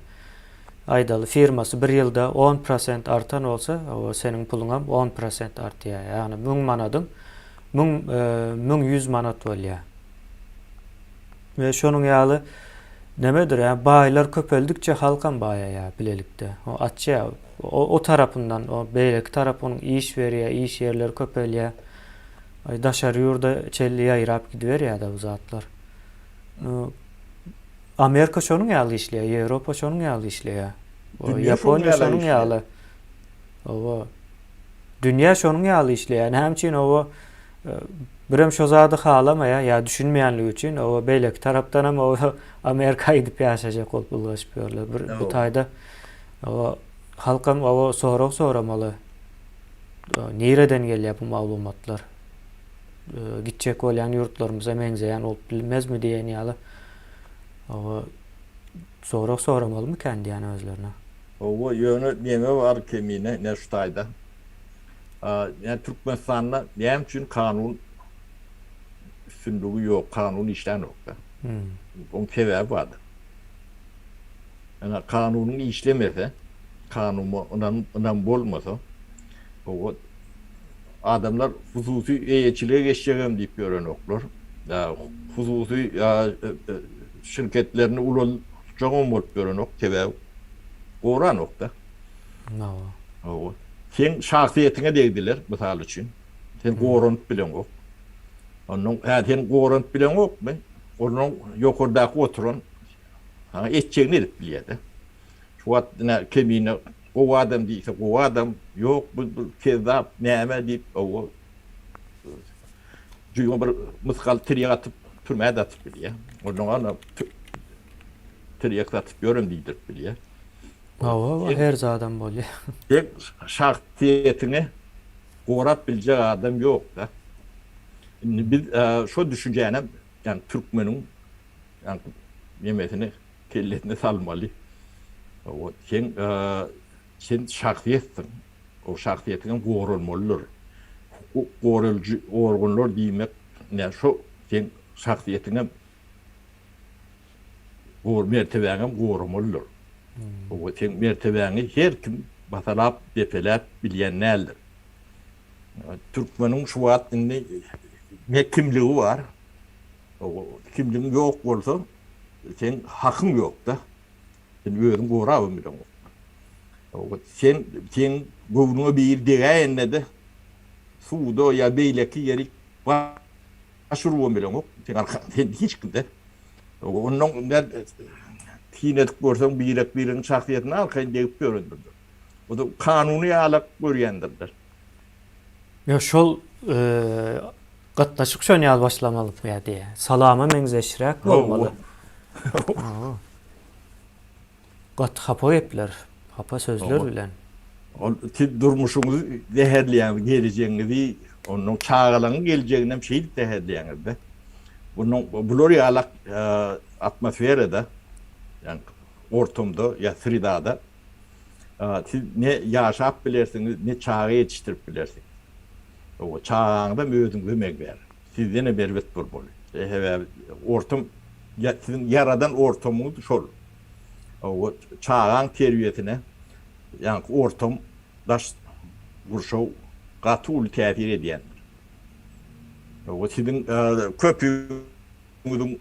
Aýdaly, firmasy bir ýylda on prosent artan bolsa, oba seniň puluňam on prosent artýar. Ýagny müň manadyň müň müň ýüz manat bolýar. We şonuň ýaly nemedir, ýa baýlar köpeldikçe halkam baýaýar bilelikde. O açýar. O, o tarapyndan, o beýleki tarap onuň iş berýär, iş ýerleri köpelýär. Daşary ýurda çenli ýaýrap gidiberýär-de bu zatlar. Amerika şonuň ýaly işleýär, Ýewropa şonuň ýaly işleýär. Ýaponiýa şonuň ýaly. Oba. Dünýä şonuň ýaly işleýär. Näme üçin oba birem şo zady halamaýar, ýa düşünmeýänligi üçin oba beýleki tarapdan hem oba Amerika gidip ýaşaýjak bolup ylgaşyp ýörler. Bir bu taýda oba halkam oba sorag soramaly. Nireden gelýär bu maglumatlar? gitjek bolýan ýurtlarymyza meňzeýän bolup bilmezmi diýen ýaly sorag soramalymy diýýän özlerine. Hawa, ýöne neňe bu Arkemine, ne şu taýda? Ýa Türkmenistanda näme üçin kanun üstünligi ýok, kanun işlänok-da? Oň sebäbi bardyr. Ýöne kanunyň işlemese, kanuma ynam bolmasa, hawa, adamlar hususy eýeçilige geçjegem diýip ýörenoklar. Hususy şirketlerini ulaltjagam bolup ýörenok, sebäbi goranok-da. Hawa. Seň şahsyýetiňe degdiler, mysal üçin, seni goranyp bileňok. Onnoň, hä, seni goranyp bileňokmy? Onnoň ýokardaky oturan Saňa etjegini edip bilýär-de. Şu wagt ine Kemine gowy adam diýse gowy adam, ýok bu bir kezzap, näme diýip oba jüýňe bir mysgal tirýek atyp türmä-de atyp bilýär. Onnoň ana tirýek satyp ýörün diýdirip bilýär. Hawa, her zadam bolýar. Seň şahsyýetiňi gorap biljek adam ýok-da. Indi biz şo düşünjänem, ýagny türkmeniň Aň nemesini kellesine salmaly. Wot seň sen şahsyýetsiň. O şahsyýetiňem goralmalydyr. Hukuk goralyjy organlar diýmek ine şo seň şahsyýetiňem gor mertebäňem goramalydyr. Wot seň mertebäňi her kim basalap depeläp bilýän däldir. Türkmeniň şu wagt indi ne kimligi bar, kimligiň ýok bolsa, seň hakyň ýok-da. Sen özüň gorabam bileňok. Sen, seň göwnüňe biri degäýende-de, suwda ýa beýleki ýeri baş urubam bileňok. Seň arkaň, sen hiç kim-dä. Onnoň nädip, tinedik görseň, birek-biregiň şahsyýetine arkaýyn degip ýörendir. Buda kanuny ýalak görýändirler. Ýok şol gatnaşyk şon ýaly başlamaly pgde. Salama meňzeşräk bolmaly. Gaty hapa gepler, hapa sözler bilen. Ol siz durmuşyňyzy zäherleýäňiz, gelejegiňizi, onuň çagalaryň gelejeginem şeýdip zäherleýäňiz-de. Munuň bular ýalak atmosferada, ýa ortamda, ýa sredada Siz ne ýaşap bilersiňiz, ne çaga ýetişdirip bilersiňiz. Hawa, çagaňyzam özüňiz emeg ber. Sizdenem erbet bolmaly. Sebäbi ortam, siziň ýaradan ortamyňyz şol. Hawa, çagaň terbiýesine ýaňky ortam, daş gurşaw gaty uly täsir edýändir. Hawa, siziň köpüňiziň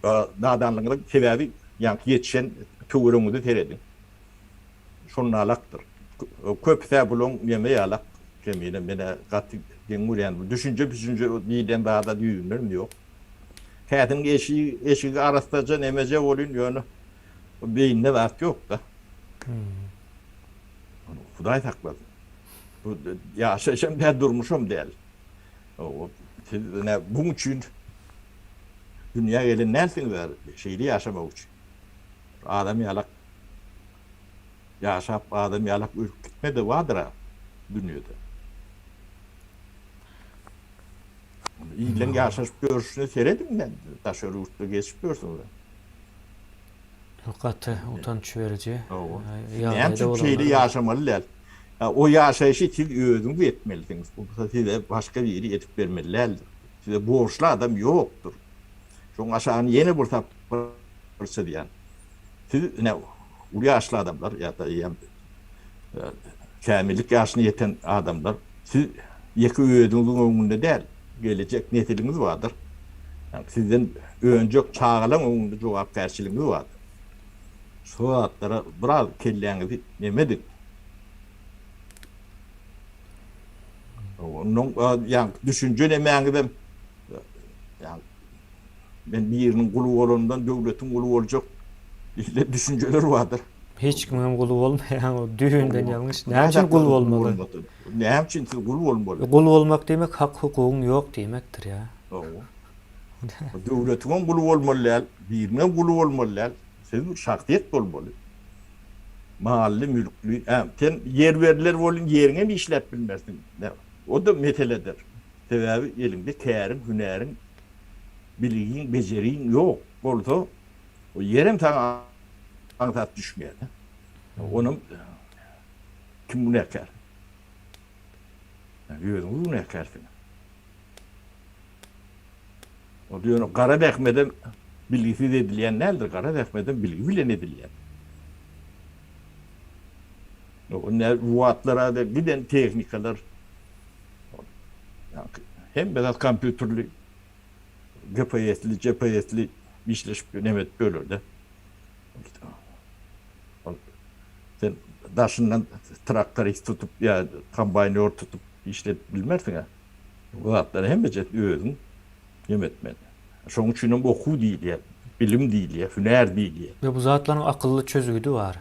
nadanlygyňyzyň sebäbi ýaňky ýetişen töweregiňize serediň. Şonalakdyr. Köpüs-ä bulaň ýeňňi ýalak. Jemile, men-ä gaty geň görýän bu düşünje-püşünje diýlen zada düýbünden ýok. Kädiň eşigi arassaja nemeje bolýn, ýöne beýninde zat ýok-da. Hudaý saklasyn. Bu ýaşaýyş hem däl, durmuş hem däl. Siz ine buň üçin dünýä gelen dälsiňiz-ä, şeýle ýaşamak üçin. Adam ýalak Ýaşap adam ýalak ölüp gitmede bardyra dünýede. Illeň ýaşaşyp ýörşüne serediň nädip daşary ýurtda geçip ýörse bir. Gaty utanç beriji ýagdaýda. Näme üçin şeýle ýaşamaly däl? O ýaşaýşy siz özüňiz etmelisiňiz. Ol size başga biri edip bermeli däldir. Size borçly adam ýokdur. Şoň aşagyny ýene bir sapar çyzýan. Siz ine uly ýaşly adamlar ýa-da eýýäm kämillik ýaşyna ýeten adamlar, siz ýeke özüňiziň öňünde däl, gelejek nesiliňiz bardyr. Sizden önjek çagalaň öňünde jogapkärçiligiňiz bardyr. Şu zatlara biraz kelläňizi nem ediň. Ondan ýaňky düşünje nemäňizem Men biriniň guly bolandan döwletiň guly boljak diýlen düşünjeler bardyr. Hiç kimiňem guly bolmaýaň o düýbünden ýalňyş. Näme üçin gul bolmaly? Näme üçin siz gul bolmaly? Gul bolmak diýmek hak hukugyň ýok diýmekdir ýa. Hawa. Döwletiňem guly bolmaly däl, biriniňem guly bolmaly däl. Siz bir şahsyýet bolmaly. Mally mülkli, sen ýer berler welin ýeriňem işläp bilmersiň. O-da meseledir. Sebäbi eliňde käriň, hünäriň, bilgiň, bejeriň ýok bolsa, ýerem saňa aňsat düşmeýär. Onam kim günäkär? Sen özüňiz günäkärsiňiz. Onda ýöne gara zähmedem bilgisiz edilýän däldir, gara zähmedem bilgi bilen edilýär. Bu wagtlar giden tehnikalar Hemme zat kompýuterli, GPS-li, GPS-li işleşip ýör, nemes bölerde. Ol sen daşyndan traktorist tutup ýa kombaýnýor tutup işledip bilmersiň-ä. Bu zatlar hemmejesini özüň nem etmeli. Şonuň üçin hem okuw diýilýär, bilim diýilýär, hünär diýilýär. Ýa bu zatlaryň akylly çözgüdi bar.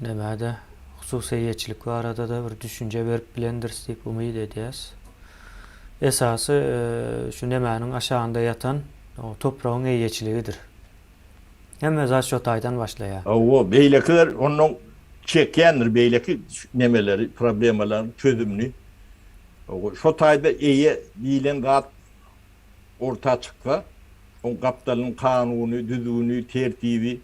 Näme-de, hususy eýeçilik barada-da bir düşünje berip bilendiris diýip umyt edýäs. Esasy şu nemäniň aşagynda ýatan topragyň eýeçiligidir. Hemme zat şo taýdan başlaýar. Hawa, beýlekiler onnoň çekýändir beýleki nemeleri, problemalaryň çözümini. Şo taýda eýe diýlen zat orta çyksa, oň gapdalynyň kanuny, düzgüni, tertibi,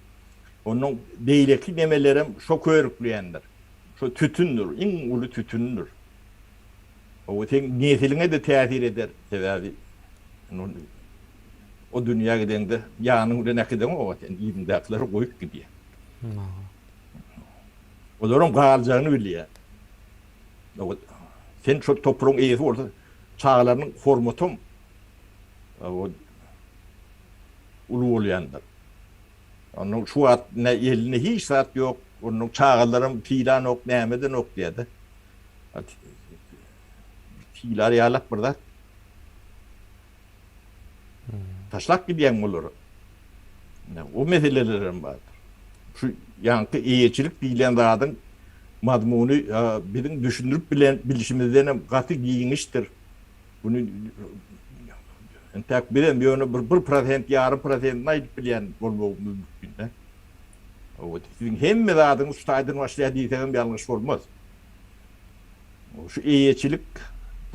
Onuň beýleki nemelerem şo körükleýändir. Şo tütündir, iň uly tütündir. O seň nesiliňe-de täsir eder, sebäbi o dünýä gideňde ýanyň bilen äkideňoga sen, yzyňdakylar goýup gidýär. Olaryň galjagyny bilýär. Sen şo topragyň eýesi bolsaň, çagalarynyň hormatyam uly bolýandyr. Onuň şu wagt ne elinde hiç zat ýok, onuň çagalaram pylanok, nämedenok diýýärdi. Pylar ýalak bir zat. Taşlap gidýäňmi olary? O meseleler hem bardyr. Şu ýaňky eýeçilik diýlen zadyň mazmuny biziň düşündirip bilen bilişimizden hem gaty giňişdir. Muny entäk bizem ýöne bir bir prosent, ýarym prosentini aýdyp bilýän bolmagymyz mümkin-dä. Siziň hemme zadyňyz şu taýdan başlaýar diýseňem ýalňyş bolmaz. Şu eýeçilik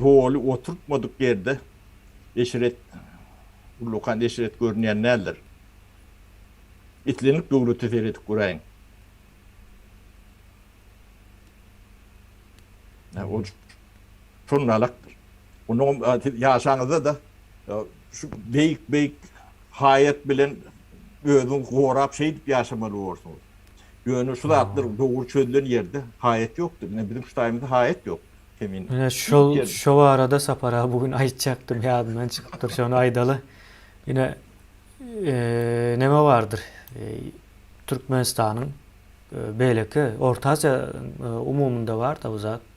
doly oturtmadyk ýerde eşret, ullakan eşret görünýän däldir. Islendik döwlete seredip göräýiň. Şonuň alakdyr. Onuňam siz ýaşaňyzda-da şu beýik-beýik haýat bilen özüňizi gorap şeýdip ýaşamaly borsuňyz. Ýöne şu zatlar dogry çözülen ýerde haýat ýokdur. Ine biziň şu taýymyzda haýat ýok. Kemin. Ine şol şo barada Sapar aga bu gün aýtjakdym ýadymdan çykypdyr şony aýdaly. Ine neme bardyr Türkmenistanyň beýleki Orta Aziýa umumynda bar-da bu zat.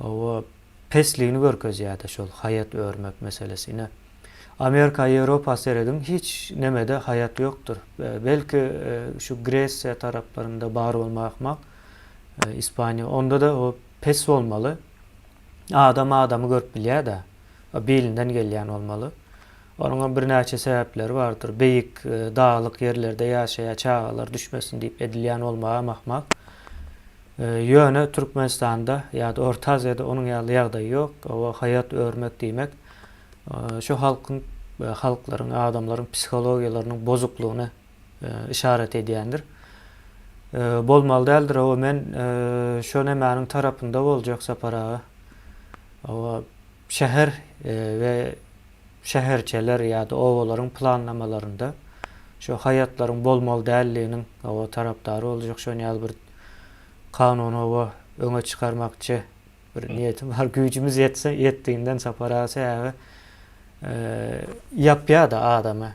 Hawa, pesligini görkezýärde şol haýat örmek meselesi. Ine, Amerika, Ýewropa serediň, hiç nemede haýat ýokdur. Belki, şu Gresiýa taraplarynda bar bolmagy ahmal, Ispaniýa, onda-da pes bolmaly. Adam adamy görüp bilýär-dä. Bilinden gelýän bolmaly. Onuňam birnäçe sebäpleri bardyr. Beýik daglyk ýerlerde ýaşaýar, çagalar düşmesin diýip edilýän bolmagy hem ahmal. Ýöne Türkmenistanda ýa-da Orta Aziýada onuň ýaly ýagdaý ýok. Oba haýat örmek diýmek, şu halkyň, halklaryň, adamlaryň psihologiýalarynyň bozuklygyna yşarat edýändir. Bolmaly däldir. Oba men şo nämäniň tarapynda boljak Sapar aga? Oba şäher we şäherçeler ýa-da obalaryň planlamalarynda şo haýatlaryň bolmaly däldiginiň oba tarapdary boljak şon ýaly bir Kanunowa öňe çykarmakçy bir niýetim bar. Güýjümiz ýetse, ýetdiginden çaparak çäge ýapýa-da adamy.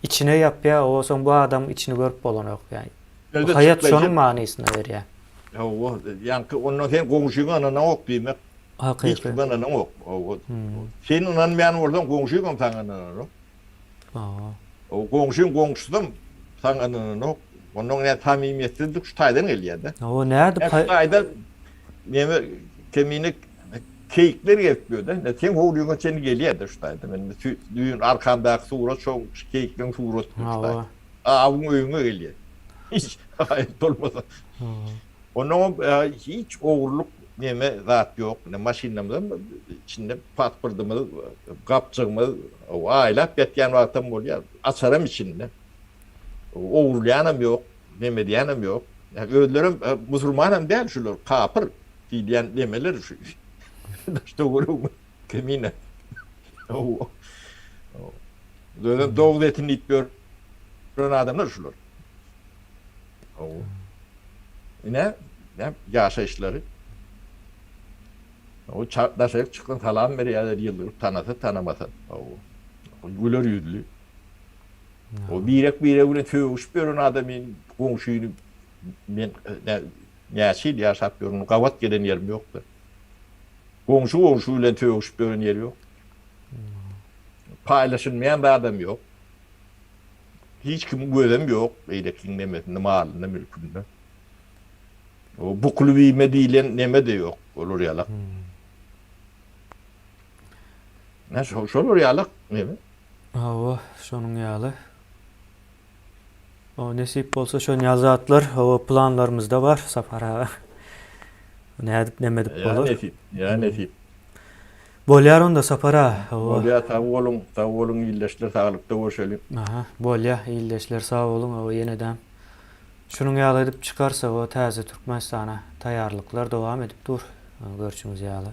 Içine ýapýa, onsoň bu adamyň içini görüp bolanok. Ýagny, haýat şonuň manysyny berýär. Hawa, ýaňky onda sen goňşyňy ynanaňok diýmek. Hakyky. Hiç kime ynanaňok. Hawa. Sen ynanmaýan bolsaň, goňşyň hem saňa ynananok. Aa. O goňşyň goňşusam saňa ynananok. Ondan näme samimiýetsizlik şu taýdan gelýärde. Hawa nädip? Şu taýda näme kemine keýikler gelip ýörde. Ne seň howlyňa çenli gelýärde şu taýda. Men düýn arkamdaky surat şo keýikleň suratydy şu taýda. Awyň öýüňe gelýär. Hiç haýyr bolmasa. Ondan hiç ogurlyk neme zat ýok. Ine maşynymyzam içinde pasportymyz, gapjygymyz aýlap ýatýan wagtam bolýar. Açaram içinde. Ogurlaýanam ýok, neme edýänem ýok. Özlerem musulmanam däl şular, kapyr diýilýän nemeler şu. Daşda görüňmi kemine. Özem doguz etin iýip ýören adamlar şular. Hawa. Ine, näm ýaşaýyşlary. Hawa, çar daşaryk çyksaň salam berýärler ýyldyryp, tanasa, tanamasa. Hawa. Güler ýüzli. O birek-biregi bilen sögüşip ýören adamyň goňşyny men nä näçe ýyl ýaşap ýörün, gabat gelen ýerim ýokdy. Goňşy goňşy bilen sögüşip ýören ýeri ýok. Paýlaşylmaýan zadam ýok. Hiç kimiň gözem ýok beýlekiniň nemesinde, malynda, mülkünde. O bukly bime diýlen neme-de ýok, olar ýalak. Nä şo, şolar ýalak neme? Hawa, şonuň ýaly. O nesip bolsa şon ýaly zatlar hawa planlarymyzda bar, Sapar aga. Nädip, neme edip bolar? Ýa nesip, ýa nesip. Bolýar onda Sapar aga. Bolýar sag boluň sag boluň ildeşler saglykda görşeliň. Aha bolýar ildeşler sag boluň hawa ýenedäm şunuň ýaly edip çykarsak o täze Türkmenistana taýýarlyklar dowam edip dur görşüňiz ýaly.